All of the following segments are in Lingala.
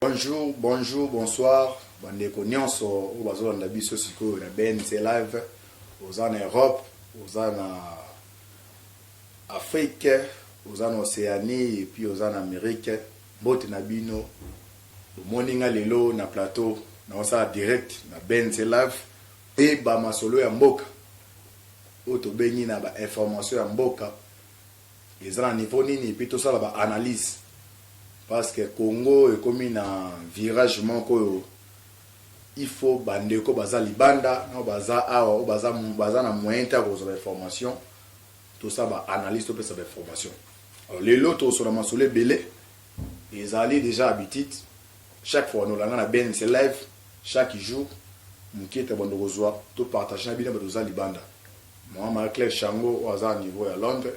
Bonjour, bonjour, bonsoir bandeko nyonso oyo bazolanda biso sikoyo na BNC live oza na Europe, oza na Afrique, oza na Océanie epuis oza na Amérique, mbote na bino. Bomoni nga lelo na plateau naosala direct na BNC live mpe bamasolo ya mboka oyo tobengi na bainformation ya mboka eza na niveau nini epuis tosala ba analyse parceque congo ekomi na virage moko oyo il faut ba ndeko baza libanda nao baza awa oyo baza, baza na moyen te ya kozwa ba information tosala ba analyse topesa ba information alors lelo tokosola masolo ebele ezali deja habitude chaque fois nolanga na bnc live chaque jour mokieta bando kozwa topartage na bino bato oza libanda Maman Marie Claire Shango oyo aza na niveau ya Londres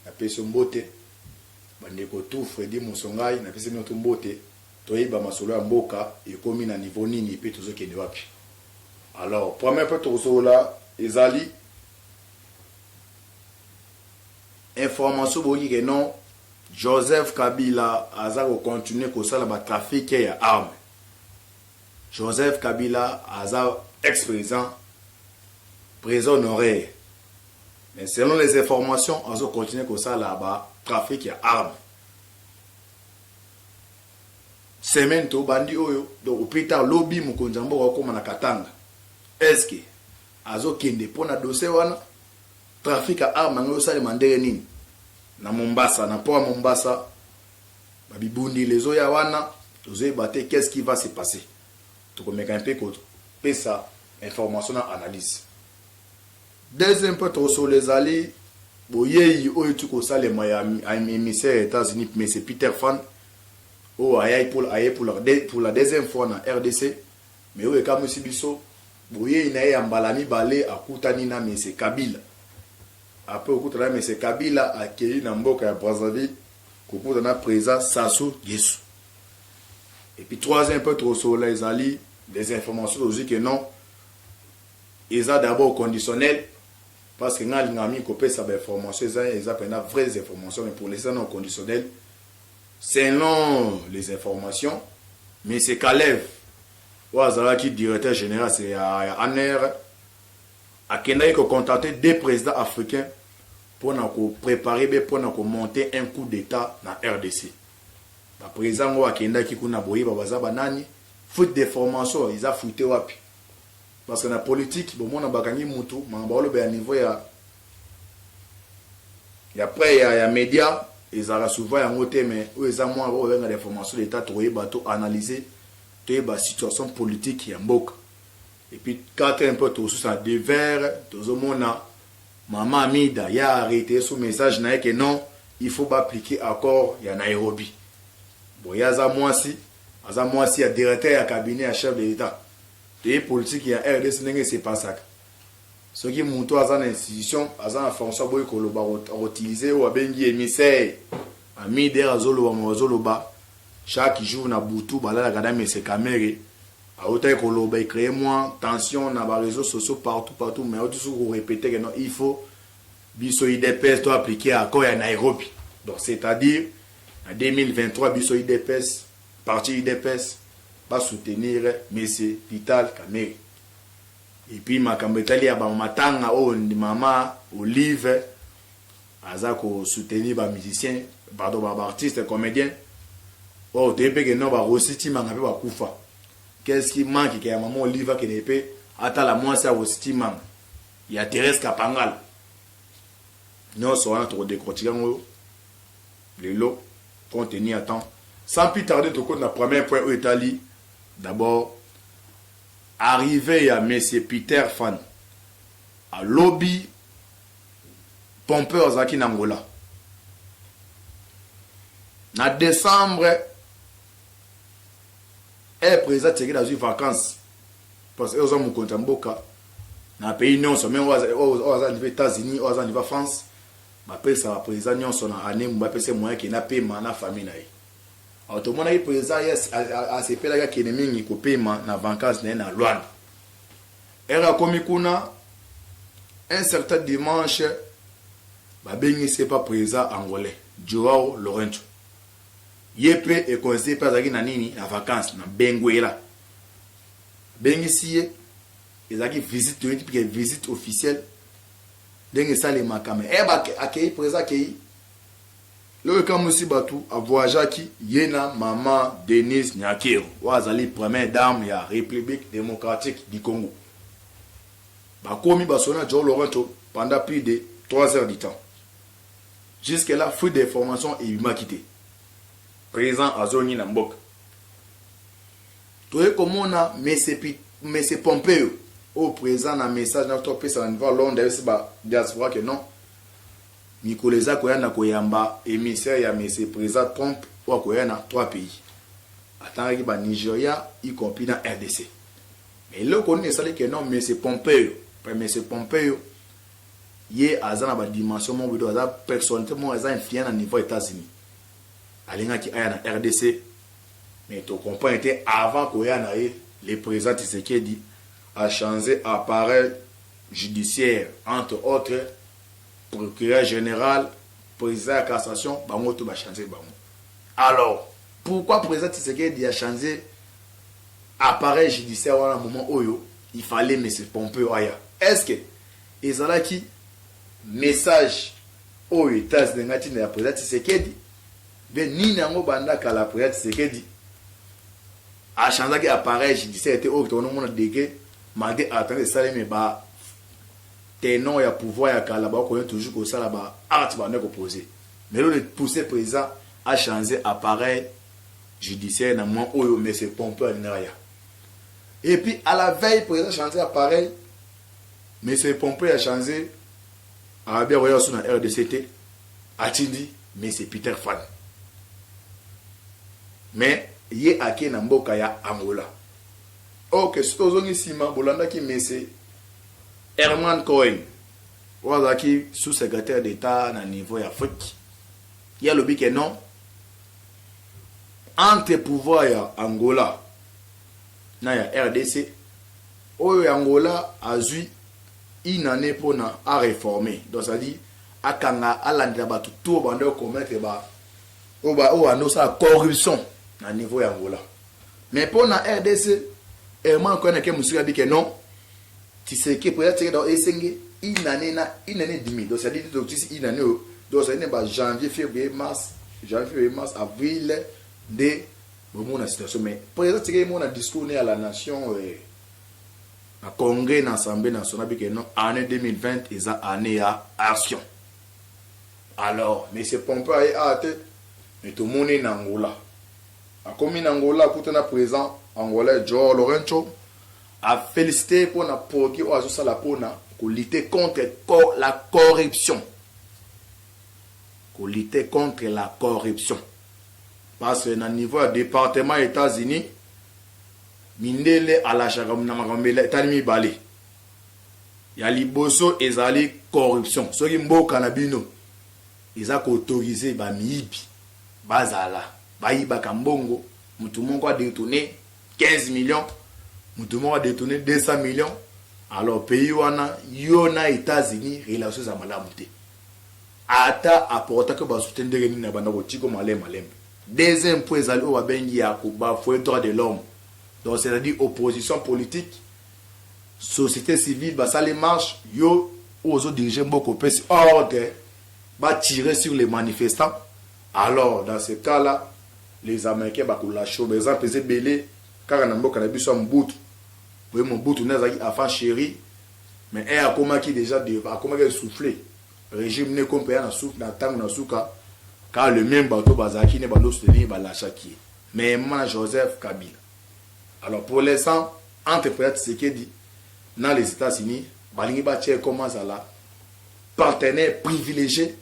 na pesi yo mbote. Ba ndeko tout Freddy Musongai na pesi bino tout mbote. Toyeba masolo ya mboka ekomi na niveau nini pe tozo kende wapi. Alors première point toko solola ezali information boyoki ke non Joseph Kabila aza ko continuer kosala ba trafiques ya armes. Joseph kabila aza ex president president honoraire mais selon les informations azo continuer kosala ba trafic ya arme semaine to bandi oyo donc au plus tard lobi mokonzi ya mboka okoma na katanga eske azokende mpo na dossier wana trafic ya arme yango ezosalema ndenge nini na mombasa na port ya mombasa Ba bibundeli ezo ya wana tozo yeba te qu'est ce qui va se passer. Toko meka un peu ko pesa information na analyse. Deuxième point toko solo ezali boyeyi oyo ti ko salema ya emissaire ya Etats-Unis mais c'est Peter Fan oyo ayaki pour aye pour la, pour la deuxième fois na RDC mais oyo ekamwisi biso boyeyi na ye ya mbala mibale akutani na mese kabila apres okutana na mese kabila akei na mboka ya brazzaville Kokuta na president Sassou Gesu. Et puis troisième point tokosolola ezali des informations tozwi que non eza d'abord conditionnel parce que ngai alingaka mingi kopesa bainformation eza eza mpenza vraies informations mais pour l'instant non conditionnel selon les informations mais c'est kalev oyo azalaki directeur général ya, ya aner Akendaki ko contacter deux presidents africains pona ko preparer be pona ko monter un coup d'Etat na rdc. Ba presidents yango bakendaki kuna boyeba baza ba nani? Fuite de formation eza fuite wapi? Parce que na politique bomona bakangi mutu makambo akolobela niveau ya ya près ya ya media ezalaka souvent yango te mais oyo eza mua oyo babenga de formation d'Etat tokoyeba to analyser toyeba situation politique ya mboka. Et puis kaka un peu tozo susa de verre tozo mona maman Amida ya arreter sous message naye que non il faut ba appliquer accord ya Nairobi bon ye aza mwasi aza mwasi ya directeur ya cabinet ya chef de l'etat toyebi politique ya rdc ndenge se pasaka soki mutu aza na institution aza na fonction aboyi koloba akotilize oyo abengi emissaire Amida azoloba mo azoloba chaque jour na butu balalaka na mese kamere Awutaki koloba e cree mua tension na ba reseaux sociaux partout partout mais awuti susu ko repeter que non il faut biso udps to appliquer accord ya Nairobi donc c'est à dire na 2023 biso udps parti udps ba soutenir monsieur Vital Kamerhe et puis makambo etali ya ba matanga oyo mama Olive Aza ko soutenir ba musiciens pardon ba artistes comediens or toyebi pe ke non ba Rossy Tshimanga pe ba kufa qu'est ce qui manque ke ya maman Olive akende pe atala mwasi ya Rossy Tshimanga ya Therèse Kapangala nionso wana toko decortiquer yango lelo compte tenu ya temps sans plus tarder tokoti na premier point oyo etali d'abord arrivee ya monsieur Peter Fan alobi Pompeo azalaki na Angola na decembre eh president tsekedi azwi vacances parce que oza mokonzi ya mboka na pays nyonso meme oyo aza niva états-unis oyo aza niva france bapesa bapresident nyonso na année mo bapesa ye moyen akenda pema na famille na ye alors tomonaki president ye asepelaki akende mingi kopema na vacances na ye na luanda Heure akomi kuna, un certain dimanche, babengisi ye pa president angolais Joao Lourenco. Ye pe e coincer ye pe azalaki na nini? Na vacances na Benguela. Abengisi ye, ezalaki visite toyebi te que visite officielle ndenge esalemaka mais heure akeyi, president akeyi, Eloko ekamwisi batu a voyageaki ye na maman Denise Nyakeru oyo azali première dame ya Republique democratique du Congo. Bakomi basolo na João Lourenço pendant plus de trois heures du temps. Jusque là, fuite d'information ebimaki te. President azongi na mboka. Toye komona Monsieur Pi- Monsieur Pompeo oyo president na message na topesa na niveau ya Londres ayebisi ba diaspora que non Mikolo eza koya nakoyamba emissaire ya monsieur president Trump oyo akoya na trois pays. Atangaki ba Nigeria y compris na rdc. Mais eloko nini esali que non monsieur Pompeo, pe monsieur Pompeo ye aza na ba dimension moko boye aza personnalite moko aza influent na niveau ya Etats Unis. Alingaki aya na rdc mais to comprendre te avant koya na ye le president Tshisekedi a change appareil judiciaire entre autres Procureur general, president ya cassation bango tout ba changer bango. Alors pourquoi president Tshisekedi a changer appareil judiciaire wana moment oyo il fallait monsieur Pompeo aya? Est ce que ezalaki message oyo e transde nga tinda ya president Tshisekedi? Bien nini yango banda kala president Tshisekedi a changeaki appareil judiciaire te oyo tokoki komona degré malgré attente esalemi ba tenants ya pouvoir ya kala ba koya toujours ko sala ba actes ba bandaki ko poser mais lelo le pousser president a changer appareil judiciaire na moment oyo mais c'est pompeux alingaka aya et puis à la veille president changer appareil mais c'est pompeux ya changer abia koya su na rdc te atindi mais c'est peter fan mais ye ake na mboka ya angola ok soki ozongi nsima bolandaki mese Herman Cohen oyo azalaki sous-secretaire d'Etat na niveau ya Afrique, ye alobi ke non, entre pouvoir ya Angola na ya rdc, oyo ya Angola azui une annee pona a reformer, donc ça veut dire akanga, alandela batu tout oyo babandaki ko commettre ba oyo babandi kosala corruption na niveau ya Angola, mais pona rdc, Herman Cohen ake musika abi ke non, Tshiseke pona tseke donc esenge une annee na une annee demi donc c'est-à-dire donc tisi une annee oyo donc c'est ne ba janvier février mars janvier février mars avril nde bomona situation mais pona eza tseke mona discours ne à la nation eh, na congrès na assemblée nationale bike non année 2020 eza année ya action alors mais c'est pompe aye a ah, te mais tomoni na angola akomi na angola akutana présent angolais joe lorenco A feliciter pona produit oyo azo sala pona ko lutter contre la corruption. Ko lutter contre la corruption. Parce que na niveau ya departement ya Etats-Unis, mindele alashaka na makambo etali mibale. Ya liboso ezali corruption. Soki mboka na bino eza ko autoriser ba miyibi bazala, bayibaka mbongo, mutu moko a detourner 15 millions mutu moko adetourne 200 millions alors pays wana yo na etats-unis relation eza malamu te ata aportaki basute ndenge nini abanda kotiko male malembe deuxième point ezali oyo babengi ya kobafue droit de l'homme donc c'est-à-dire opposition politique société civile basali marche yo ozo dirige mboka opesi ordre batire sur les manifestants Alors dans ce cas là les americains bako lacher yo ba exemple eza ebele kaka na mboka na biso ya mobutu boye mobutu nde azalaki enfant cherie mais heure akomaki dejà devant akomaki essouffle regime ne kompe ya na soupe na tango na suka car le meme bato bazalaki ne bando soutenir ba lachaki ye mais ma joseph kabila alors pour l'instant entre president tshisekedi na les etats unis balingi batia ye comme azala partenaire privilegie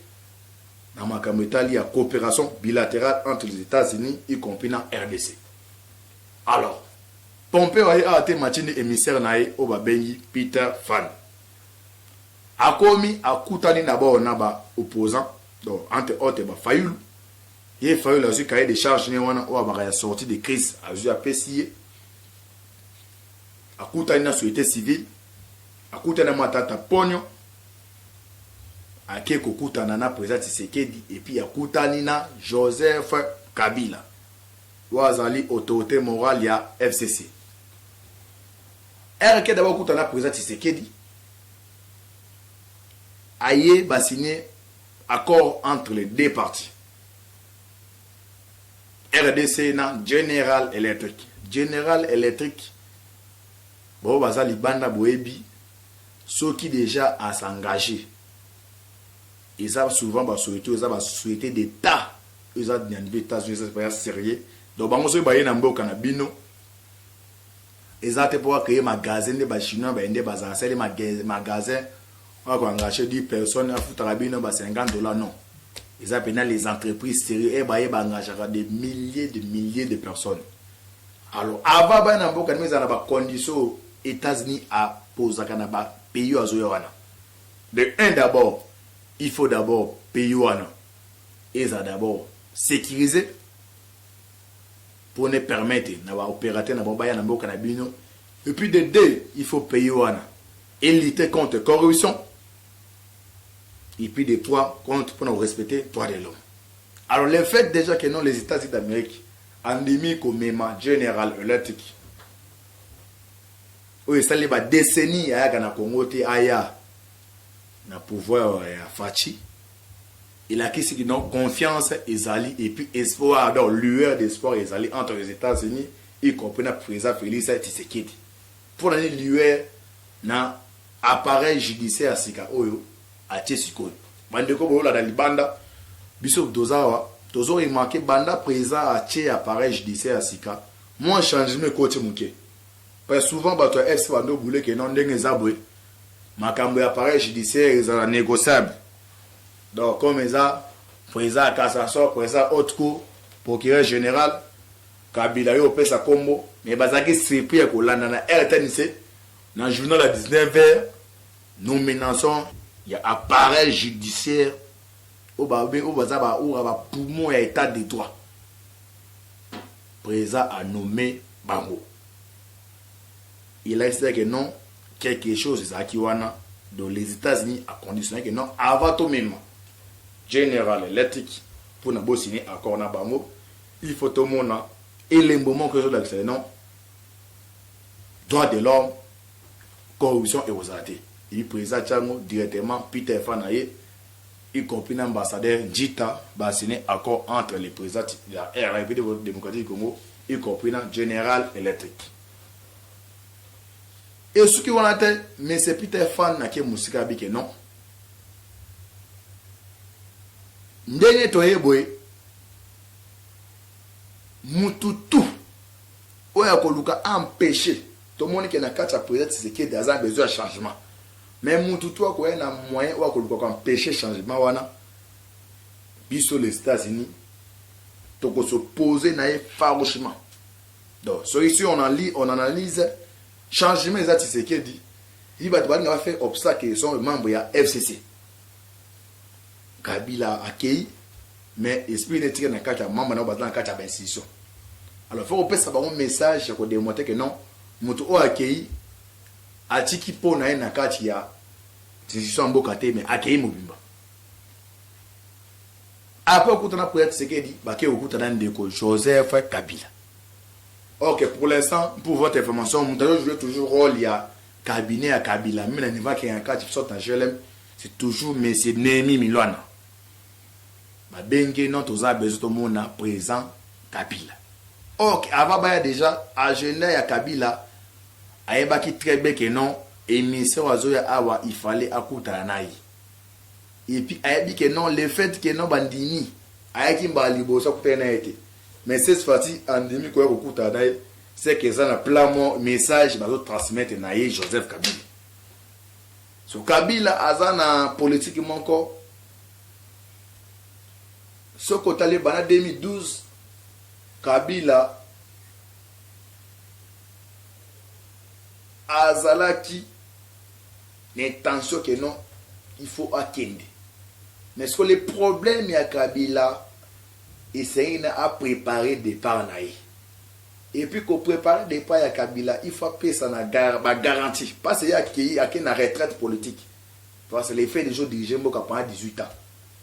na makambo etali ya cooperation bilaterale entre les Etats-Unis y compris na rdc. Alors, Pompeo aye awa te Matshi nde emissaire na ye oyo babengi Peter Phan. Akomi akutani d'abord na ba opposants, donc entre autres ba Fayulu. Ye Fayulu azwi cahier de charge ne wana oyo abaka ya sortie de crise azwi apesi ye. Akutani na société civile, akutani na Matata Ponyo, ake kokutana na president Tshisekedi et puis akutani na Joseph Kabila oyo azali autorite morale ya FCC. Heure ake d'abord kutana na president Tshisekedi aye ba signer accord entre les deux parties. RDC na General Electric. General Electric bao baza libanda boyebi Soki dejà a s'engager eza souvent ba societes oyo eza ba societes d'etat oyo eza na niveau ya etats unis eza penza serieux donc bango soki baye na mboka na bino eza te po ba cree magasin nde ba chinois baye nde bazala sali magasin oyo ako engager 10 personnes afutaka bino ba 50 dollars non eza penza les entreprises serieux et baye ba engageaka des milliers de milliers de personnes Alors avant baya na mboka nima ezala na ba conditions oyo Etats Unis a posaka na ba pays oyo azoya wana. De un d'abord il faut d'abord pays wana ezala d'abord securise pour ne permettre na ba operateur na bango baya na mboka na bino et puis de deux il faut pays wana e lutter contre corruption et puis de trois contre pour na respecter droit de l'homme. Alors le fait déjà que non les Etats-Unis d'Amerique Andimi komema General Electric oyo esali ba decennies ayaka na Congo te aya na pouvoir ya Fatshi. Elakisi que donc confiance ezali et puis espoir donc lueur d'espoir ezali entre les Etats-Unis y compris na President Felix Tshisekedi. Mpo na nini lueur na Appareil judiciaire ya sika oyo atie sikoyo. Ba ndeko bo landa libanda, biso toza awa tozo remarquer banda president atie appareil judiciaire ya sika, mua changement ekoti muke. Parce souvent batu ya FC bando boule que non ndenge eza boye makambo ya appareil judiciaire ezala negociable. Donc comme eza president ya cassation, president ya haute cour, procureur general, kabila yo opesa kombo mais bazalaki surpris ya kolanda na rtnc Na journal ya 19 heures, nomination ya appareil judiciaire oyo ba oyo baza ba oura ba poumons ya etat de droit. President a nomme bango. Elakisi que non quelque chose ezalaki wana donc les États-Unis a conditionné que non avant to mema General Electric pour na bo signer accord na bango il faut tomona elembo moko ezolakisa non droit de l'homme corruption ekozala te ebi president tiango directement peter fa na ye y compris na ambassadeur njita ba signer accord entre le president ya rrpd démocratique du congo y compris na general electric esuki wana te monsieur peter fan na ke mosika abi ke non ndenge toye boye mutu tout oyo ya koluka a empecher tomoni ke na kati ya president Tshisekedi aza na besoin ya changement mais mutu tu akoya na moyen oyo akoluka ko empecher changement wana biso les Etats Unis toko se poser na ye farouchement donc soki si on en lit on analyse changement eza Tshisekedi yi bato balinga ba faire obstacle sont membre ya FCC Kabila akeyi mais esprit ne tika na kati ya mamba na baza na kati ya ba institution alors faut kopesa bango message ya ko demonter que non mutu oyo akeyi atiki po na ye na kati ya institution ya mboka te mais akeyi mobimba après okutana mpo ya tisekedi bake okutana ndeko joseph kabila ok pour l'instant pour votre information moto azo joue toujours rôle ya cabinet ya kabila meme na niveau akeyaka kati sorte na glm C'est toujours monsieur Nehemi Milwana. Ba benge non toza besoin to mona présent Kabila. Or que avant baya déjà agenda ya Kabila ayebaki très bien que non émission azoya awa il fallait akutana na ye. Et puis ayebi que non le fait que non bandimi ayaki mbala liboso akutana na ye te. Mais cette fois-ci andimi koya kokutana na ye c'est que eza na plan mo message bazo transmettre na ye Joseph Kabila. So kabila aza na politique moko soki otali banda 2012 kabila azalaki na intention que non il faut akende mais siko le problème ya kabila esengeli na a preparer depart na ye Et puis ko preparer depart ya Kabila il faut apesa na ba garantie pas ce ye akeyi akeyi na retraite politique parce que le fait deja o diriger mboka pendant 18 ans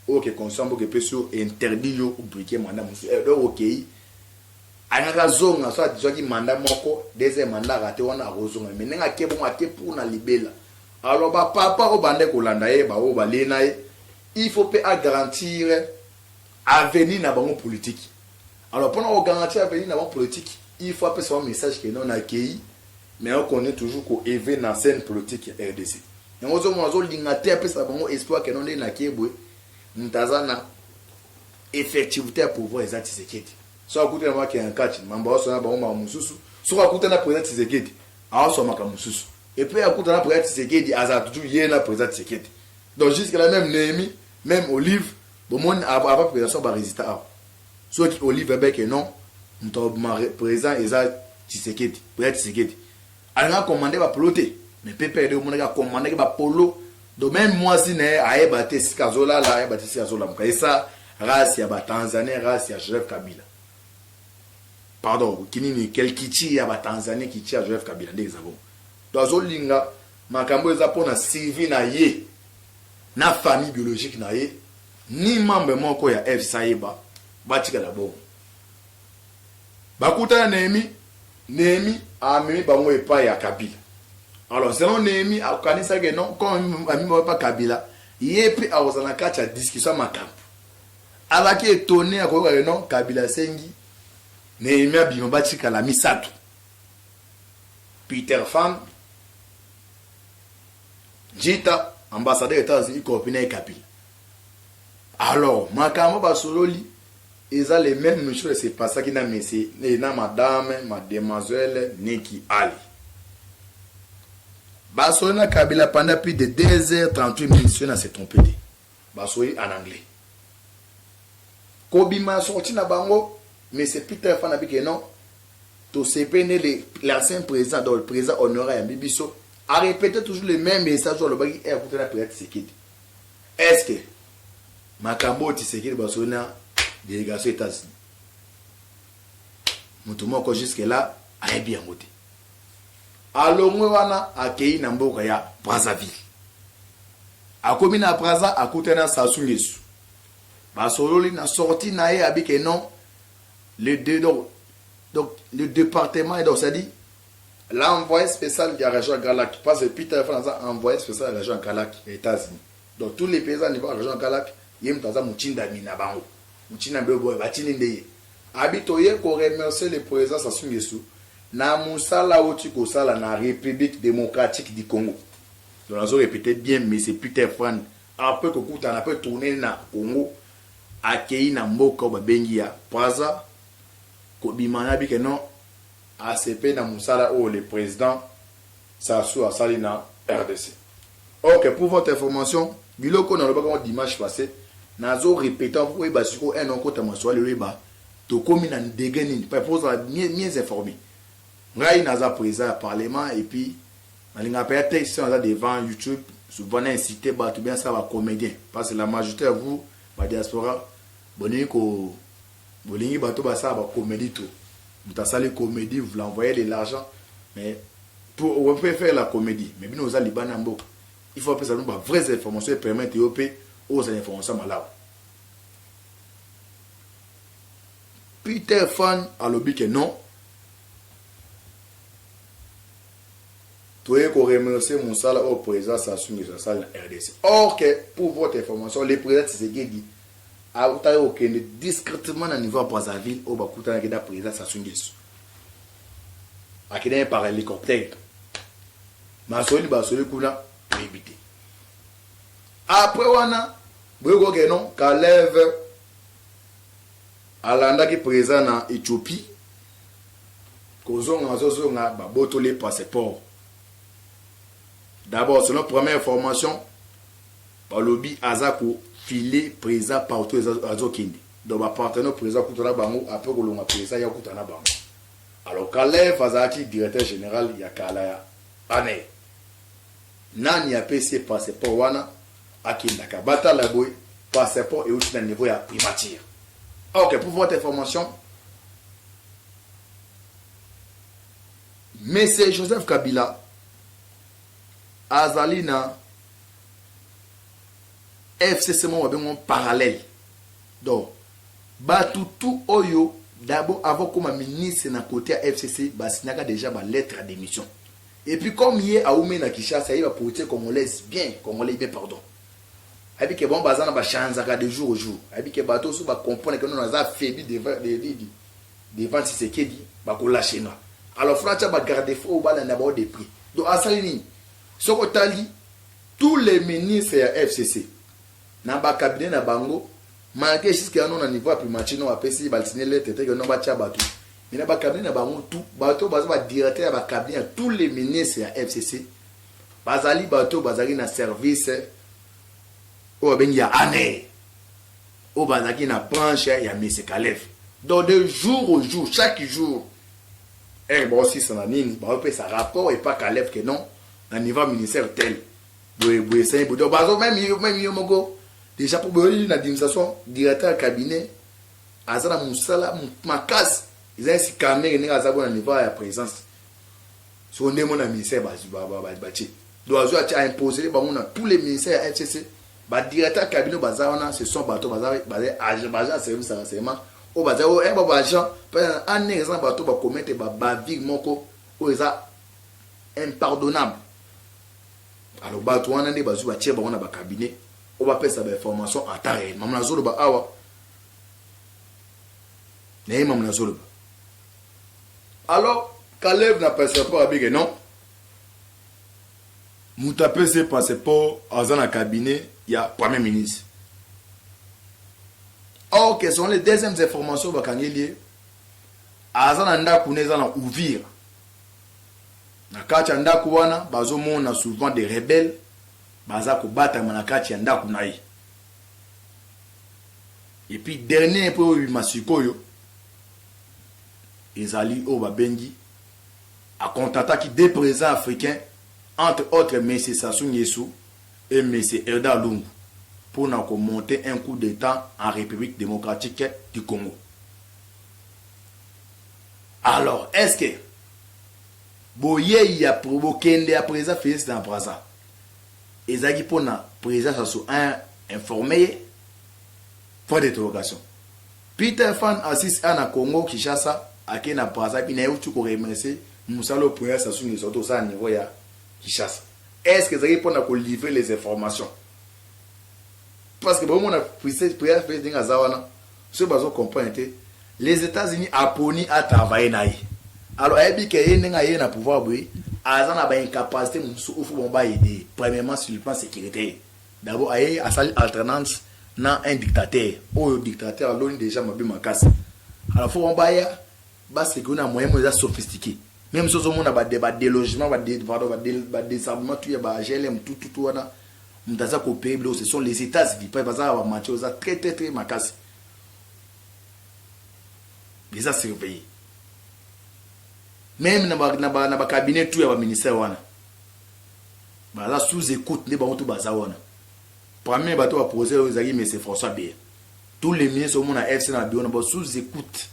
oyo ke constitution ya mboka epesi yo interdit yo o briquer mandat mosusu eh, donc okeyi alingaki azonga so azwaki manda moko deuxième manda rate wana akozonga me ndenge ake bongo ake pour na libela alors bapapa oyo bande kolanda ye baoyo balie na ye il faut mpe agarantir Avenir na bango politique alors pona ko garantir avenir na bango politique il faut apesa bango message que non na keyi mais nako continuer toujours ko ever na scène politique ya rdc yango ozo mona azo linga te apesa bango espoir que non nde na ke boye mutu aza na effectivité ya pouvoir eza Tshisekedi soki akuti na bango akenda na kati mambo azo sona bango makambo mosusu soki akuta na president Tshisekedi azo sona makambo mosusu et puis akuta na president Tshisekedi azala toujours ye na president Tshisekedi donc jusque là même Nehemi même Olive Bomoni a ba presentation ba resultats awa soki olive be que non moto abima president eza tshisekedi president tshisekedi alingaka commande ba polo te mais ppr de omonaki a commandaki ba polo donc meme mwasi na ye ayeba te esika azolala ayeba te esika azolamuka esa race ya ba tanzanien race ya joseph kabila pardon kinini kel kichi ya ba tanzanien kichi ya joseph kabila nde eza bongo to azolinga makambo eza mpo na survie na ye na famille biologique na ye ni membre moko ya fc ayeba batikala bongo bakutana Nehemi Nehemi amemi bango epai ya Kabila alors selon Nehemi akanisaki non comme amemi bango epai Kabila ye mpe akozala na kati ya discussion ya makambo alaki etone akoyoka ke non Kabila asengi Nehemi abima batikala misato Peter Fan Jita ambassadeur ya Etats Unis corrompu naye Kabila. Alors makambo basololi eza les memes mesures ya se passaki na mese na madame mademoiselle Niki Ali. Basololi na Kabila pendant plus de 2 heures 38 minutes soki na se trompe te. Basoyi en anglais. Kobima ya sortie na bango monsieur Peter Fana bi ke non tosepeli nde le l'ancien president donc le president honore ayambi biso a repete toujours le meme message oyo alobaki heure akutana na president Tshisekedi est ce que makambo oyo Tshisekedi basoyi na delegation Etats-Unis moto moko jusque là ayebi yango te. alongwe wana akeyi na mboka ya Brazzaville. Akomi na Brazza akutani na Sassou Nguesso. Basololi na sortie na ye abi que non le de, donc, donc le département et donc ça dit l'envoyé spécial de la région Galac parce que Peter Fan aza envoyé spécial de la région Galac ya États-Unis. Donc tous les paysans niveau région Galac ye mutu aza mutindami na bango. Mutindami boye batindi nde ye. Abi toye ko remercier le President Sassou N'Guesso na musala awuti kosala na Republique Democratique du Congo. Donc nazo repeter bien Monsieur Peter Fran apres kokutana pe tourner ye na Congo akeyi na mboka oyo babengi ya Brazza kobima na bi ke non asepe na musala oyo le President Sassou asali na rdc. Ok pour votre information biloko oyo nalobaki yango dimanche passe nazo repeter mpo oyeba sikoyo un okota masolo lelo oyeba tokomi na degree nini mpo ozala mieux informe. Ngai naza president ya parlement et puis nalingaka mpenza te soki naza devant youtube souvent na inciter bato ou bien nasala ba comediens parce que la majorite ya vous ba diaspora bolingi ko Bolingi bato basala ba comedie tout moto asali comedie vous l'envoyer de l'argent mais pour on peut faire la comedie mais bino oza libanda ya mboka il faut apesa bino ba vraies informations et permettre yo pe ozala information ya malamu Peter Fan alobi que non toye ko remercier mosala oyo président Sassou Nguesso asali na RDC or que pour votre information le président Tshisekedi Akutaki kokende discretement na niveau ya Brazzaville oyo bakutanaki na President Sassou N'Guesso. Akendaki par helicoptère. Masolo nini basoli kuna toyebi te. Après wana boyebi koke non Kalev alandaki President na Ethiopie kozonga azozonga babotoli passeport. D'abord selon première information Balobi aza ko file president partout azo kende donc ba partenaire president akuta na bango apres kolongwa president aye akuta na bango alors kalev azalaki directeur general ya kala ya anel nani apesi ye passeport wana akendaka batala boye passeport euti na niveau ya primature ah, ok pour votre information monsieur joseph kabila azali na FCC moko babengi yango parallèle. Donc batu tout oyo d'abord avant okoma ministre na cote ya FCC ba signaka dejà ba lettres ya demission. Et puis comme ye awumeli na Kinshasa ayebi ba politiciens congolaise bien, congolais bien pardon. Ayebi ke bango baza na ba chanzaka de jour au jour. Ayebi ke batu oyo soki ba comprendre ke non naza affaibli devant devant devant Tshisekedi bako lacher nga. Alors il faut atia ba garde fou oyo balanda bango de près. Donc asali nini? Soki otali tout les ministres ya FCC na ba cabinet na bango malgre jusque ya no na niveau ya primature no bapesi ba signe lettre te que no batia batu mais na ba cabinet na bango tout bato baza ba directeur ya ba cabinet ya tous les ministres ya FCC bazali bato bazali na service oyo babengi ya annee oyo bazalaki na branche ya Mese Kalev donc de jour au jour chaque jour Heure bao sisa na nini bao pesa rapport epa Caleb que non na niveau ministère tel boye boye sayi bodo bazo même yo même yo moko déjà pour boye na administration directeur cabinet aza na musala makasi eza esi kamere ndenge aza ko na niveau ya présence soko nde mona ministère bazwi batie donc azwi atie a imposer bango na tous les ministères ya fcc ba directeur cabinet baza wana ce sont bato baza agent baza service ya renseignement oyo baza oyo eh, ba agent mpe année eza na bato ba commettre ba bavure moko oyo eza impardonnable alors bato wana nde bazwi batie bango na ba cabinet oyo bapesa ba information en temps réel mama nazoloba awa naye mama nazoloba Alors Caleb na passeport abi ke non. Moto apesa ye passeport aza na cabinet ya premier ministre. Or que sont les deuxièmes informations bakangeli ye aza na ndako na eza na Uvira. Na kati ya ndako wana bazomona souvent des rebelles baza kobatama na kati ya ndako na ye. Et puis dernier mpo ebima sikoyo ezali oyo babengi a contataki deux presidents africains entre autres Monsieur Sassou N'Guesso et Monsieur Edar Lungu mpo na ko monter un coup d'Etat en Republique democratique du Congo. Alors, est-ce que boyei ya bokende ya president Felix na Brazza ezalaki mpo na president Sassou a informer ye? Point d'interrogation. Peter fan Assis a na Congo Kinshasa ake na Brazza ville naye tu ko remercie musala oyo Prince Sassou N'Guesso auto sala niveau ya Kinshasa est ce que ezalaki pona ko livrer les informations parce que bo mona Prince Prince ndenge aza wana soki bazo comprendre te les Etats Unis aponi a travailler na ye alors ayebi ke ye ndenge aye na pouvoir boye aza na ba incapacité mosusu oyo faut bango ba aider premièrement sur le plan sécuritaire D'abord aye asali alternance na un dictateur oyo dictateur aloni dejà mabe makasi alors faut baya ba secure na moyen mo eza sophistique même sozo mona ba ba délogement ba pardon ba désarmement tout ya ba GLM tout tout wana moto aza ko payer biloko ce sont les États-Unis pa baza ba match oza très très très makasi eza surveiller même na ba na ba, na ba cabinet tout ya ba ministère wana Baza sous ecoute nde bango tout baza wana. Premier bato ba projet oyo ezalaki Monsieur François Beya. Tous les ministres au mona FC na bureau na bango sous ecoute.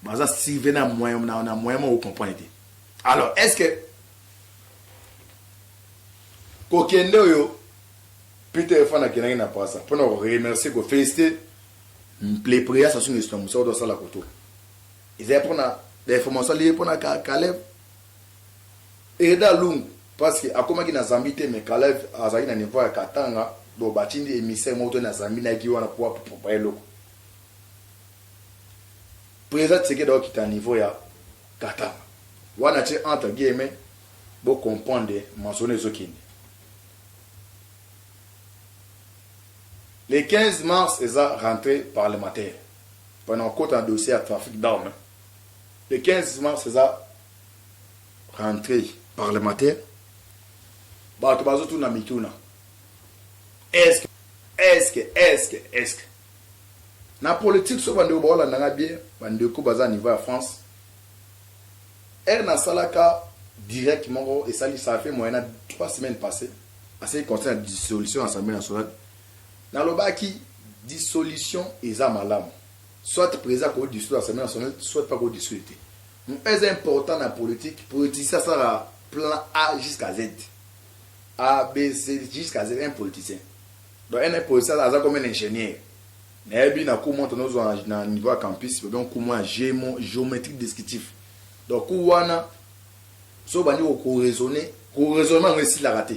Baza surveiller na moyen na, na moyen moko comprendre te. Alors est-ce que kokende oyo Peter Efana akendaki na Pasa mpo na koremercier kofelicite le président Sassou Nguesso na mosala oyo asala kotoka ezali mpo na information aliye mpo na Caleb Aida lungu parce que akomaki na zambie te mais kalev azalaki na niveau ya katanga donc batindi emissaire moko to na zambie nayaki wana po apupa eloko president tshisekedi akokita na niveau ya katanga wana ti entre guillemets bo comprendre mansona ezokende le 15 mars eza rentrée parlementaire pona okota na dossier ya trafic d'armes Le 15 mars eza rentree parlementaire batu bazo tuna mituna eske eske eske eske na politique so bandeko baolanda nga bien bandeko baza niveau ya France ere nasalaka direct moko esali ça fait moyen na 3 semaines passées asali conseil ya dissolution ya assemblée nationale nalobaki dissolution eza malamu Soit president ako dissoudre assemblee nationale soit pas ako dissoudre te. Eza important na politique politicien asala plan A jusqu'à Z. A B C jusqu'à Z un politicien. Donc un politicien aza comme un ingénieur. Nayebi na cours monte nozwa na niveau ya campus ba donc cours ya gémo géométrique descriptif. Donc cours wana so bandi ko raisonner ko raisonnement ngo esilaka te.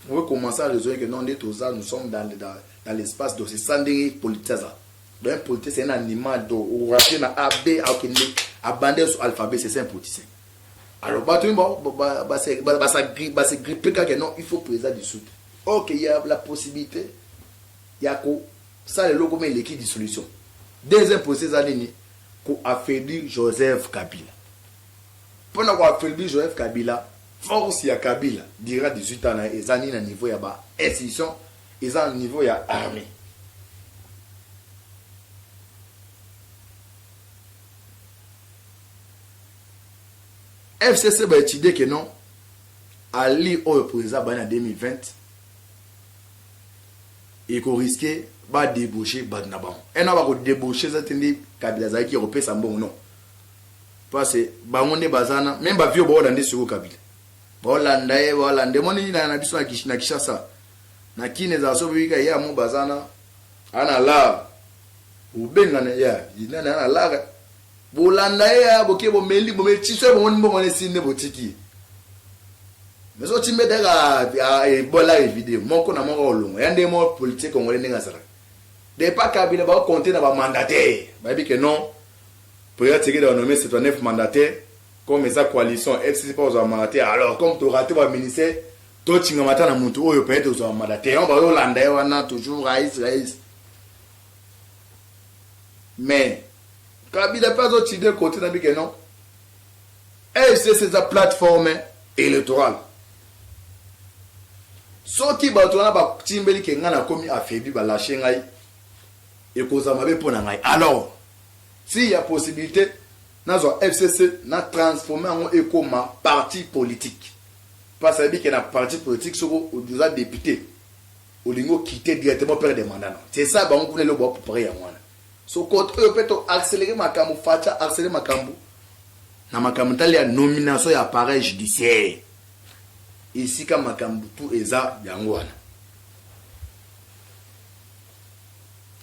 On veut commencer à raisonner que non nde toza nous sommes dans dans l'espace donc c'est ça ndenge politique aza. Donc un politicien c'est un animal donc orater na A B akende abandaki sur alphabet c'est un politicien. Alors bato ba ba ba se ba se grippe ba se grippe kaka non il faut président du sud. Ok il y a la possibilité ya ko sala eloko mais eleki dissolution. Deuxième procès eza nini? Ko affaiblir Joseph Kabila. Mpo na ko affaiblir Joseph Kabila force ya Kabila dira 18 ans na ye eza nini na niveau ya ba institution Eza na niveau ya armee. FCC ba étudier que non Ali oyo pour eza bana 2020 et qu'on risquait ba débaucher bad na bango. Et na ba ko débaucher za tende kabila za ki kopesa mbongo non. Parce bango ne bazana même ba vieux ba olande sur kabila. Ba olanda e ba olande moni na na biso na Kinshasa. na kin ezala soki bika ya mo bazana ana lar obenga na ya ina na ana lar bolanda ye ya boke bomeli bomeli tiso ye bomoni mbongo ne sinde botiki mais so timbe daga ebola e video moko na moko olongo ya nde mo politique congolais ndenge azala de pas kabila ba compter na ba mandataire ba bi que non Président Tshisekedi a nommé 79 mandataires comme sa coalition FCC pas aux mandataires alors comme tu raté ba ministères To tingama ata na mutu oyo peut-être ozwa mada te yango bazo landa ye wana toujours rais rais mais kabila pe azo chide kote na bike non fcc eza plateforme électorale soki bato wana batimbeli ke ngai nakomi affaibli balashe ngai ekozala mabe mpo na ngai alors si ya possibilité nazwa fcc na transforme yango ekoma parti politique Pasi ayebi ke na parti politique soki oza depute olingi o quitter directement perd de mandat no c'est ça bango kuna eloko bao preparer yango wana so cote oyo pe to accelerer makambu fatshi a accelerer makambu na makambu etali ya nomination ya appareil judiciaire esika makambu tout eza yango wana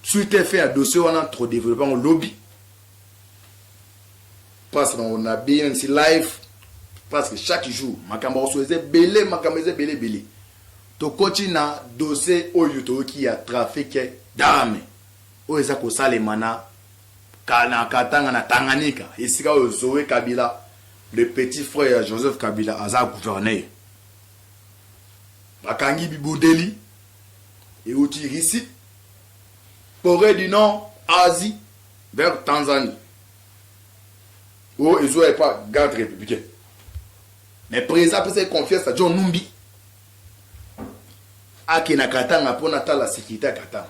suite efe ya dossier wana trop developper yango lobi place na ngo na BNC live parce que chaque jour makambo ya kosola eza ebele makambo eza ebele ebele tokoti na dose oyo toyoki ya trafic dame oyo eza kosalema na na katanga na tanganyika esika oyo zoe kabila le petit frère ya joseph kabila aza gouverneur bakangi bibudeli euti russie corée du nord asie Vers Tanzanie oyo ezwa epa garde republicaine mais president apesa ye confiance na John Numbi ake na Katanga mpo natala securite ya Katanga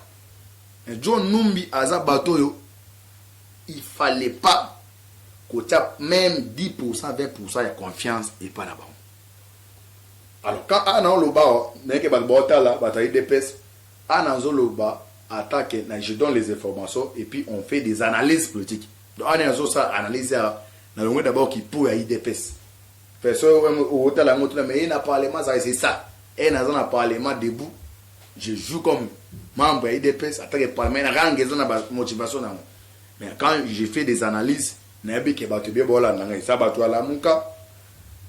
mais John Numbi aza bato oyo il fallait pas kotia même 10% 20% ya confiance epa na bango alors quand ana oloba nayeke bato baotala bato ya idps Awa nazo loba ata que na je donne les informations et puis on fait des analyses politiques donc awa nde nazo sala analyse awa na longoli d'abord ki po ya udps pe soki otala yango otuna mais ye na parlement azali c'est ça et naza na parlement debout je joue comme membre ya udps ata que parlement na rang eza na ba motivation na yango mais quand je fais des analyses Nayebi ke batu ebele baolanda nga eza batu ya lamuka,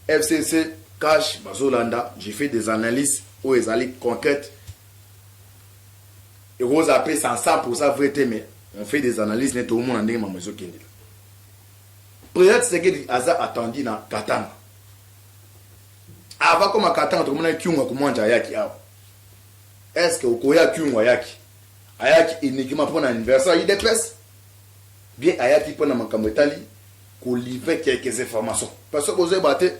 FCC, cash bazolanda je fais des analyses oyo ezali concrete ekozala pe sans 100% vrai te mais on fait des analyses neti omona ndenge mama ezokendela President Tshisekedi aza attendu na Katanga avant koma Katanga tokomona Kyungu akomwanja ayaki awa est-ce que okoya Kyungu ayaki ayaki uniquement mpo na anniversaire ya UDPS Bien ayaki pona makambo etali ko livrer quelques informations parce que bozo yeba te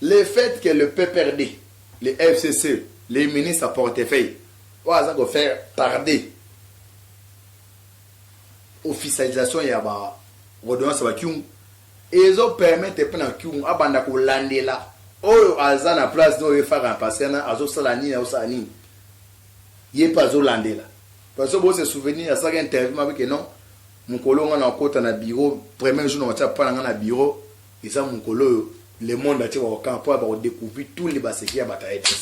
le fait que le PPRD, le FCC, le ministre à portefeuille oyo aza ko faire tarder officialisation ya ba ordonnance ya ba kyungu ezo permettre pe na kyungu abanda ko landela oyo aza na place oyo ye Fara na Pasiana azo sala nini azo sala nini ye pe azo landela Pasteur bo se souvenir asalaki interview m'a que non mukolo nga na kota na bureau premier jour na kotia pa na nga na bureau eza mukolo oyo le monde atie ba okanga po ba ko decouvrir tous les ba secrets ya batu ayebi te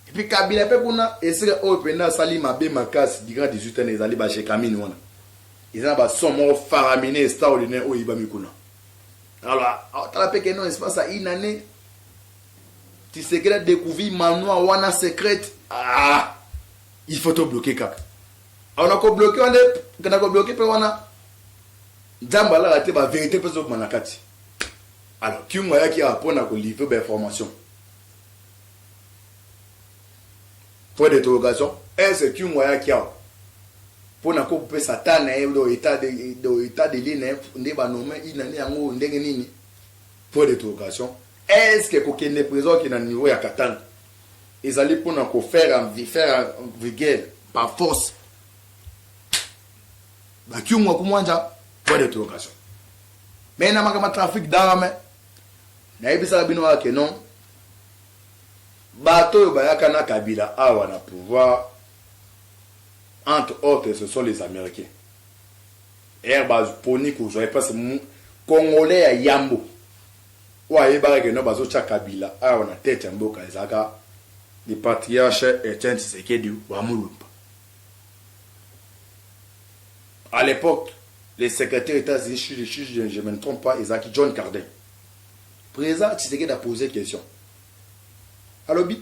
et puis kabila pe kuna esika oyo penda asali mabe makasi du grand 18 ans ezali ba jekamine wana eza na ba son moko faramine extraordinaire oyo eyibami kuna alors tala pe que non espace ya une année tisekela decouvrir manoir wana secrète ah Il faut to bloquer kaka. Alors na ko bloquer wana nde na ko bloquer pe wana Nzambe alala te ba verite pe zokuma na kati. Alors Kyungu ayaki awa mpo na ko livrer ba information. Point d'interrogation, est-ce Kyungu ayaki awa mpo na ko pesa ta na ye do état de do état de lieu na ye nde ba nommer il na yango ndenge nini? Point d'interrogation, est-ce que kokende prison ke na niveau ya Katanga ezali pona ko faire faire vulgaire par force ba kiungwa kumwanja point de interrogation mais na makambo trafic d'arme nayebisaka bino kaka ke non bato oyo bayaka na kabila awa na pouvoir entre autres ce sont les américains er baponi kozwa epasi congolais ya yambo oyo ayebaka que non bazo tia kabila awa na tete ya mboka ezalaka le patriarche Etienne Tshisekedi wa mulumba à l'epoque le secretaire etats unis si je me ne trompe pas ezalaki John Cardin president Tshisekedi a pose question alobi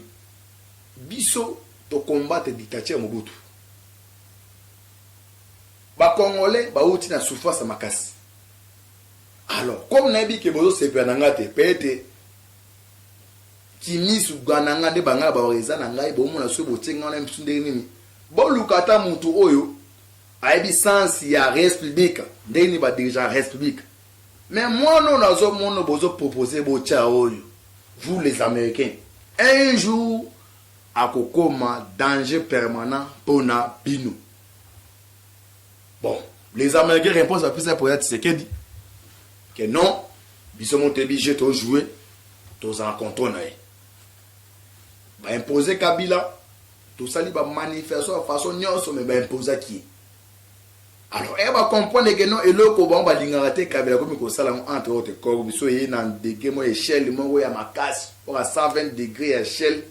biso to combattre dictature Mobutu ba congolais bauti na souffrance makasi Alors comme nayebi ke bozo sepela na nga te peut-etre kimisu ga na nga nde ba nga na baloka eza na ngai bo mona soki botie nga wana bisu ndenge nini boluka ata mutu oyo ayebi sens ya res publique ndenge nini ba dirigeant res publique mais mwana oyo nazo mono bozo propose botia oyo vous les américains un jour akokoma danger permanent pona bino Bon, les Américains réponse à Pisa Poya Tshisekedi que non, biso motebi jeu to jouer, tous en contrôle na ye. Ba imposer Kabila, tosali ba manifestation ya façon nyonso mais ba imposa ki. Alors, eh ba comprendre que non eloko bango balingaka te Kabila komi kosala ngo entre autres ko biso ye na degré mo échelle moko ya makasi, oka 120 degré ya échelle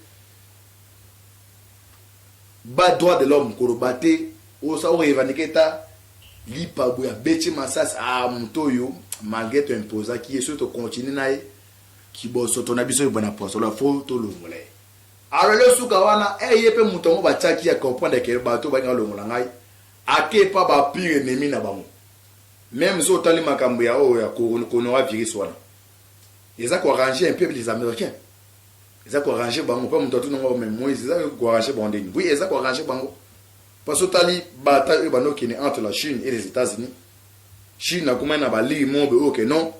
Ba droit de l'homme koloba te osa o revendique ata lipa boye abeti masasi ah moto oyo malgre to imposaki ye soki to continue na ye kibosoto na biso ebanda poisolo fo tolongola ye alors leo suka wana eh ye pe moto yango batiaki ya comprendre que bato balinga longola ngai ake epa ba pire ennemi na bango meme so otali makambo ya oyo ya coronavirus wana eza ko arranger un peu les américains Eza ko arranger bango pa mutu atuna ngo mais Moïse eza ko arranger bango ndenge oui eza ko arranger bango pa so tali bataille oyo bando kende entre la Chine et les Etats-Unis Chine akoma na ba ligne mobe oyo que non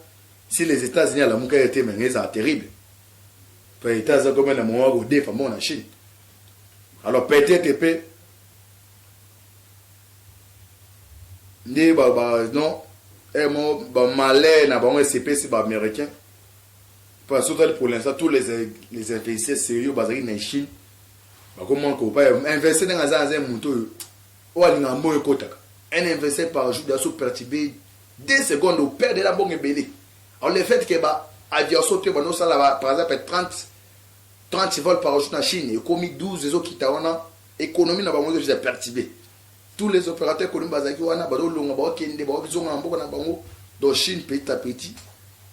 si les Etats-Unis alamuka ye te mais eza terrible to etat eza koma na mowa ko defa mo na Chine alors peut-être pe nde ba ba non eh mo ba malais na bango esepesi ba américains Pona soki totali pour l'instant tous les les investisseurs serieux bazali na Chine bakomona ko pa investir ndenge aza aza moto oyo oyo alingaka mbongo ekotaka un investisseur par jour daso perturbe deux secondes au père de la mbongo ebele alors le fait que ba aviation te bando sala ba par exemple 30 30 vols par jour na Chine ekomi 12 ezokita wana économie na bango ezo perturbe tout les operateur economique bazalaki wana bazo longa bazo kende bazo zonga na mboka na bango donc chine petit à petit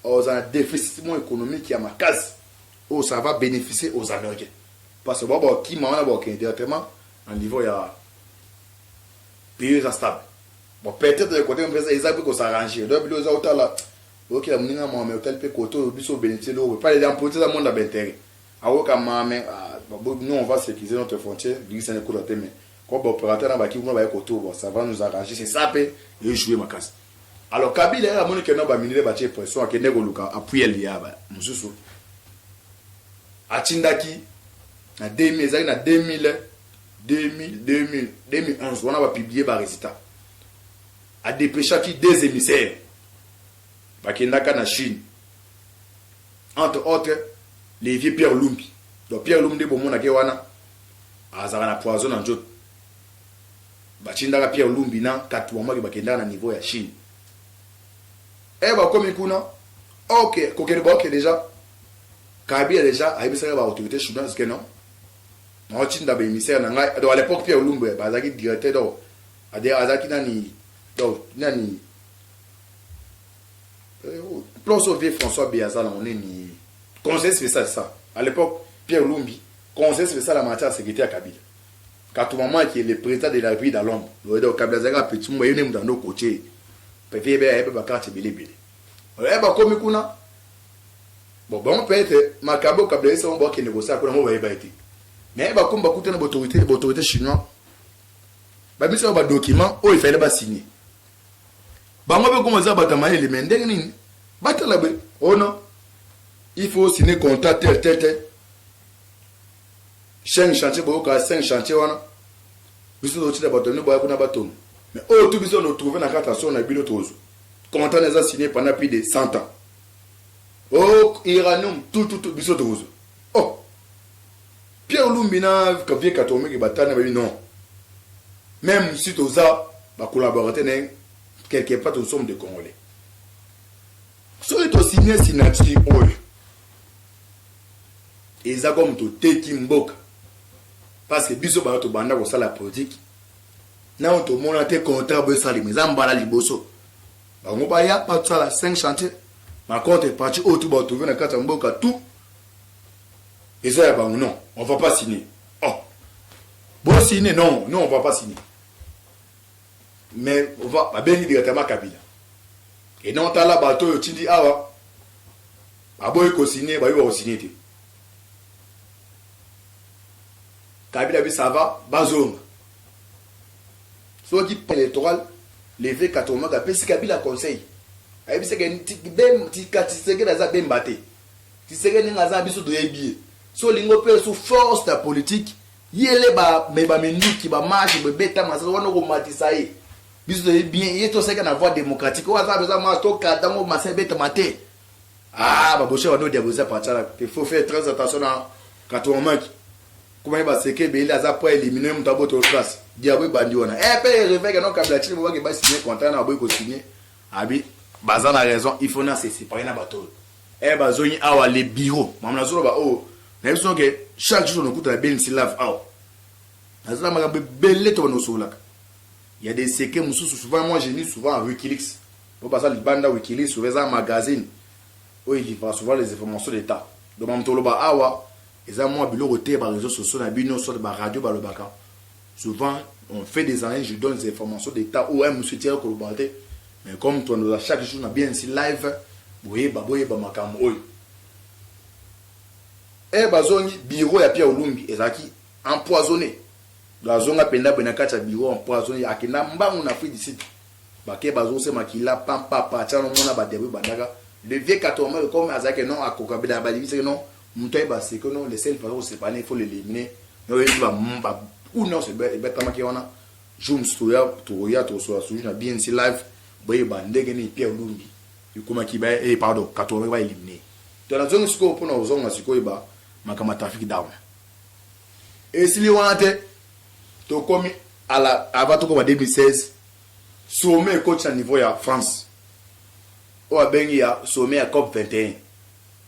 oza na déficit mo économique ya makasi oyo ça va bénéficier aux américains parce que bao bakima wana bakokende directement na niveau ya pays eza stable bon peut-être de côté mpeza eza mpe kosarranger donc bilo eza otala oyokela moninga mame otali mpe kote oyo biso obénéficie loko pale ya mpote eza monde ya baintérêt aoyoka mame ah, non on va sécuriser notre frontière bikisana ekota te mais Comme ba operateur na ba ki kuna baye ko tourba ça va nous arranger c'est ça pe e joue makasi alors kabila ye amoni ke non ba minier batie pression akende koluka apuel ya ba mususu atindaki na 2000 ezalaki na 2000 2000 2000 2011 wana ba publier ba resultat adepeshaki deux émissaires bakendaka na chine entre autre le vieux Pierre Lumbi donc Pierre Lumbi nde bomona ke wana azalaka na poison na nzoto batindaka Pierre Lumbi na Katuamaki bakendaka na niveau ya Chine e eh, bakomi kuna ok kokende baoke deja Kabila deja ayebisaka ba autorité chinoise ke non naotinda baemissaire na ngai donc à l'époque Pierre Lumbi eh, bazalaki directeur donc azalaki nani donc nani Plan so vie François Beaza na oneni conseil spécial ça à l'époque Pierre Lumbi conseil spécial à matière sécurité à Kabila Katou maman qui est le président de la République dans l'ombre ouais donc Kabila Zaga petit mwa yone mutando coaché peut-être yebe yebe ba carte bele bele ouais ba komi kuna bon bon peut-être makabo Kabila ça on va que négocier kuna mo ba yeba été mais ba komba kutana ba autorité ba autorité chinois ba mise ba document oyo il fallait ba signer bango pe koma za bata mayele me ndenge nini batala be ono oh il faut signer contrat tel tel tel chaîne chantier boyoka 5 chantier wana biso tozotila bato bino boya kuna batoni mais oyo tu biso totrouve na kati ya solo na bino tozwa contrat na eza signé pendant plus de 100 ans o oh, iranium tututu biso tokozwa Pierre lumbi na vieux katumbi ke batana babi non meme si toza ba collaborateur na quelque part nous sommes des congolais soki to signe signature oyo eza comme toteki mboka parce que biso bana tobanda kosala politique nao tomona te contrat boyo esalema eza mbala liboso bango baya batosala 5 chantier macontre parti oyo tu batrouve na kati ya mboka tout eza ya bango non on va pas signer oh bo signer non non on va pas signer mais on va babengi directement kabila et non tala bato oyo tindi awa baboyi kosigne bayebi bakosigne te kabila bi ça va bazonga soki électoral leve katomaka apesi kabila conseil ayebisaka tika tisekedi aza bemba te Tshisekedi ndenge aza na biso toyebi ye. So olingi opesa su force ya politique, yele ba me ba minduki ba marche boye beta masasi wana okomatisa ye. Biso toyebi bien ye toseka na voie démocratique. Oyo aza besoin marche to kata ngo masasi ebeta mate. Ah ba boshe bando diaboliser Pachala. Il faut faire très attention na Katuamaki. Kuma ye baseke bele aza po éliminer mutu aboto classe. Diabo ebandi wana. Eh pe réveil non kabila chini bobaki ba signer contrat na boyi ko signer. Abi baza na raison il faut na se separer na bato oyo eh bazongi awa le bureau mama na zolo ba oyo na biso ke chaque jour na kuta na benisi love awa na zala makambo ebele to banosolaka il y a des secrets mususu souvent moi j'ai mis souvent à Wikileaks po baza libanda Wikileaks souvent eza magazine oyo elivra souvent les informations d'état donc mamtoloba awa eza mwa biloko te ba réseaux sociaux na bino soit ba radio balobaka Souvent on fait des années je donne des informations d'etat ou un monsieur tiens koloba te mais comme tu as chaque jour na bien ici live boyeba boyeba makambo oyo eh bazongi bureau ya Pierre Olumbi ezalaki empoisonné bazonga penda bena kati ya bureau empoisonné akenda mbangu na Afrique du Sud bake bazose makila pampa pa tshano mona ba diabo bandaka le vieux katombe comme azaki non akoka bela balibisaki non Mutu ayeba ce que non le seul façon ko sepana il faut l'eliminer mais oyebi ba ba coup non se betamaki wana jour musu toya tokoya tokosola suju na BNC live boyeba ndenge nini Pierre Lumbi ekomaki ba eh pardon katumbi ba eliminer to na zongi sikoyo pona ozonga sikoyo ba makambo ya trafic down esili wana te tokomi ala avant tokoma 2016 sommet ekoti na niveau ya France oyo abengi ya sommet ya COP 21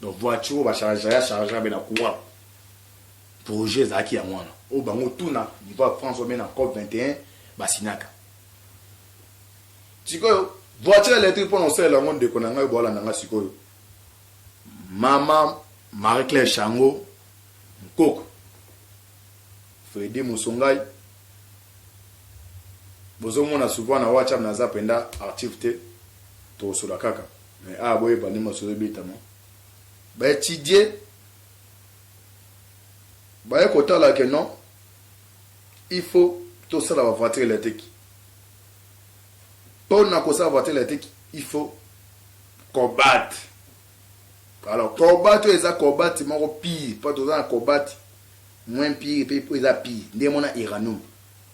donc voiture oyo bachargea ya chargea be na courant projet ezalaki yango wana oyo bango tuna niveau ya france ome na cop 21 basinaka sikoyo voiture électrique mpo na osalela yango ndeko na ngai boalanda ngai sikoyo mama marie claire chango nkoko fredi mosongai bozomona souvent na whatsapp naza mpenza archive te tokosola kaka Mais awa boyeba nde masolo ebetama ba etudie baye kotala que non il faut tosala ba voiture electrique pona kosala voiture electrique il faut cobalt alors cobalt oyo eza cobalt moko pire mpo toza na cobalt moins pire mpe eza pire nde mona iranum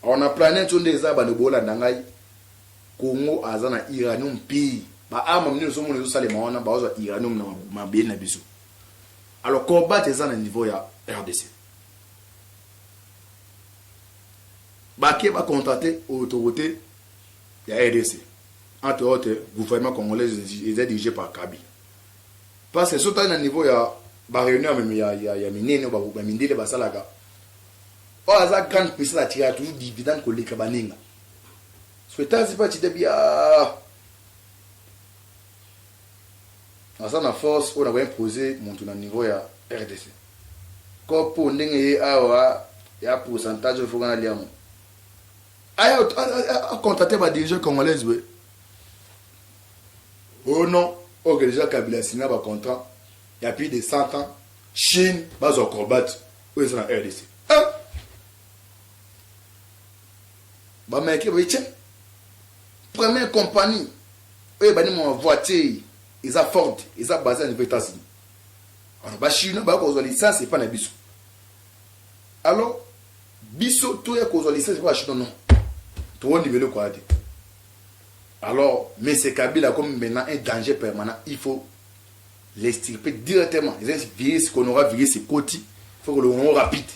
alors na planète oyo nde eza bando bolanda ngai Congo aza na uranium pii ba arme nini ozomona ezosalema wana baozwa uranium na mabele na biso alors combat eza na niveau ya rdc bake ba contracte autorité ya rdc entre autres gouvernement congolais eza dirigé par kabi parce que so tali na niveau ya baréunion ya, ya, ya minene bamindele basalaka oyo aza grande puissance atikaka toujours dividende koleka baninga Sweetazi fatshi te biaa. Aza na force oyo na ko imposer mutu na niveau ya rdc. Kopo ndenge ye awa ya pourcentage oyo foka na lia ngo. Aya a contacter ba dirigeants congolais we. Oh non, ok déjà Kabila signa ba contrat ya plus de 100 ans Chine bazo combattre oyo eza na rdc. Ah! ba americain baye tse première compagnie oyo ebandi mwa voiture eza ford eza base na niveau etats-unis alors ba chinois baya kozwa licence epa na biso alors biso toya kozwa licence epa ba chinois non towondima eloko ya te alors monsieur kabila akomi maintenant un danger permanent il faut Les extirper directement. Les virus qu'on aura virus ekoti, faut que le moment rapide.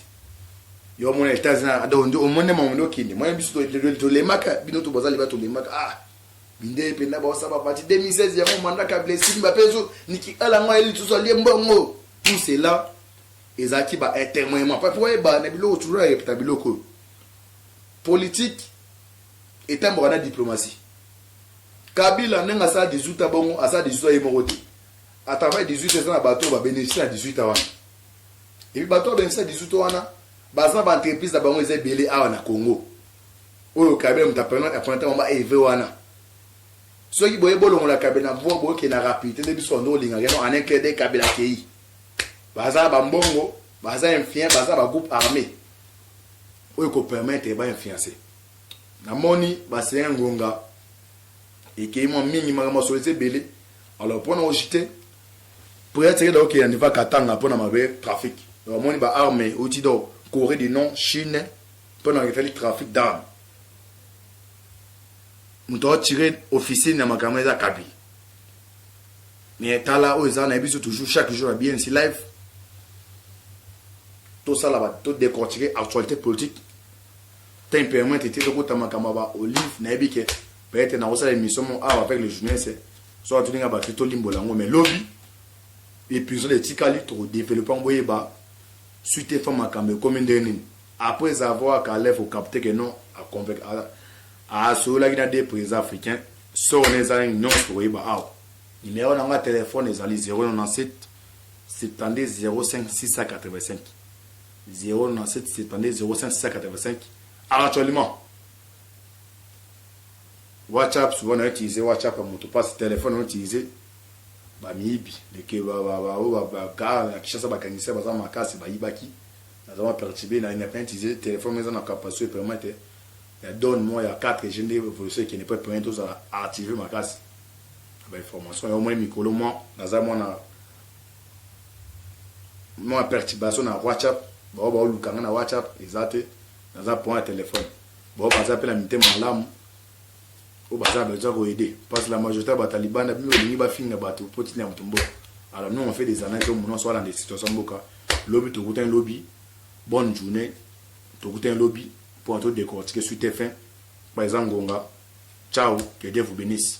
Yo omona etat zina ado ndo omone mamu ndo kinde. Moi biso to to lemaka bino to bazali ba to lemaka. Ah. Binde penda ba osaba bati 2016 ya mo mandaka blessing ba peso niki ala ngwa eli tuzo lie mbongo. Tout cela ezalaki ba témoignement pa po eba na biloko toujours ya repta biloko politique etambaka na diplomatie Kabila ndenge asala 18 ans bongo asala 18 ans ye moko te. A travail 18 ans eza na bato ba beneficie na 18 ans wana. Et puis bato ba beneficie na 18 ans wana baza ba entreprise na bango eza ebele awa na Congo. Oyo Kabila moto apena apena tango ba EV wana. Soki boye bolongola Kabila na pouvoir boke na rapidité nde biso ndo olinga keno en un clé de Kabila kei. Baza ba mbongo, baza influent, baza ba groupe armé. Oyo ko permettre ba influencer. Na moni ba seins ngonga ekeyi mua mingi makambo ya solo eza ebele alors pona ko jete president tshisekedi akoki kokende va katanga pona mabe trafic donc amoni ba arme euti do coree du nord chine pona esali trafic d'arme moto aotire officine ya makambo eza kabi mais tala oyo eza nayebi biso toujours chaque jour ya bnc live tosala to décortiquer actualité politique temperament te tokota makambo ya ba olive nayebi ke peut-être nakosala emission mo awa avec le journaliste soki atuni nga bato tolimbola yango mais lobi episode etikali tokodeveloppe yango boyeba suite efa makambo ekomi ndenge nini après avoir kalef ocapte ke non asololaki na deux président africain soko na eza nini nyonso tokoyeba awa numero na nga telefone ezali 097 70 05 685 097720555 actuellement WhatsApp souvent na utiliser WhatsApp ya moto pasi telefone na utiliser bamiyibi leke bakaa na kishasa bakangisai baza makasi bayibaki naza bapertibe na independant utiliser telefone eza na capacité permet te ya donne moi ya 4 g nde evolution ekende mpo permet tozala active makasi bainformation ya omoi mikolo mwa naza mwana mua perturbation na WhatsApp bao bao luka nga na WhatsApp eza te naza point ya telephone bao baza pe na mitema malamu oyo baza besoin ko aider parce que la majorité ya batalibana bino bolingi bafinga bato mpo tina ya moto mboka alors nous on fait des analyses oyo mononso alanda situation mboka lobi tokutani lobi bonne journée tokutani lobi mpo na todecortike suite fin par exemple ngonga ciao que dieu vous bénisse